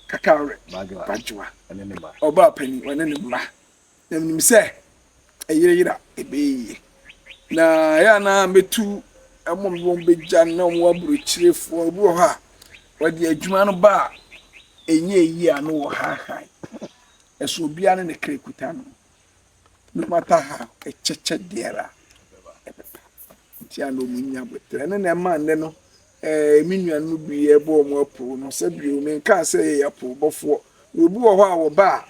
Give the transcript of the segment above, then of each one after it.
Kakaure Badjoa, ɔbaapanin, ɔne ne mma. Na menim sɛ ɛyereyera ɛbɛyɛ yie. Na ɛyɛ a na mɛtu ɛmo mede wɔn bɛgya na wɔn aburokyirefoɔ ebi wɔ hɔ a wɔde adwuma no ba a ɛnyɛ yie a na wɔhaahae. Ɛso obiara ne ne kra kuta no. No matter how, ɛkyɛkyɛ deɛ a ɛbɛba. Nti a na wɔn nnya aboterɛ. Ɛno na ɛma nnɛ no ɛɛ me nua no bi ɛbɔ wɔn apoo no sɛ bio me nkaa sɛ yɛ apoo bɔfoɔ. Obi wɔ hɔ a wɔba a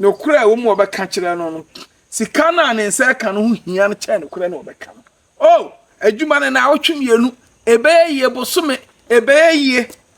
nokorɛ a wɔn mu ɔbɛka kyerɛ no no sika no a ne nsa ɛka no ho hia no kyɛn nokorɛ no ɔbɛka no. Oh adwuma no na awɔtwe mmienu ɛbɛyɛ yie bosome ɛbɛyɛ yie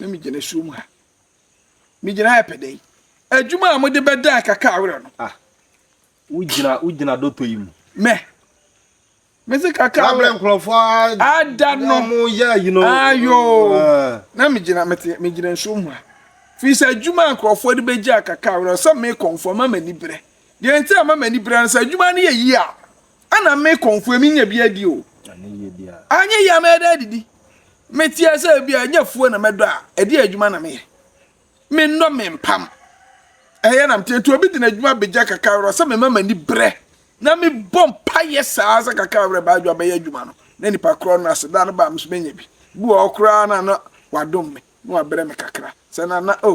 na megyina asuo mu ha megyina ɛpɛ dɛ adwuma a mode bɛda kaka awerɛ no ah wogyina wogyina dɔtɔ yi mu mɛ mese kaka awerɛ nkurɔfoɔ ada no mo yɛ yi no ayo ah. na megyina mete megyina nsuo mu ha firi sɛ adwuma a nkurɔfoɔ de bɛgya kaka awerɛ sɛ mekɔmfoɔ ma m'ani berɛ deɛ nti a ma m'ani berɛ no sɛ adwuma no yɛ yie a Ana me kɔnfoɔ emi nya bi adi o. Anyɛ yie a mɛda adidi. Me teɛ sɛ ebi a nyɛ afuo na mɛdɔ a ɛdeɛ adwuma na meyɛ. Me nnɔ me mpam. Ɛyɛ na mete nti obi de n'adwuma begya kakra werɛ sɛ mema m'ani brɛ na me bɔ mpaeɛ saa sɛ kakra werɛ baa adwuma bɛyɛ adwuma no na nipa korɔ no ase da no ba a me nso menya bi. Bi wɔ hɔ koraa na na wadom me na wabrɛ me kakra sɛ na na o.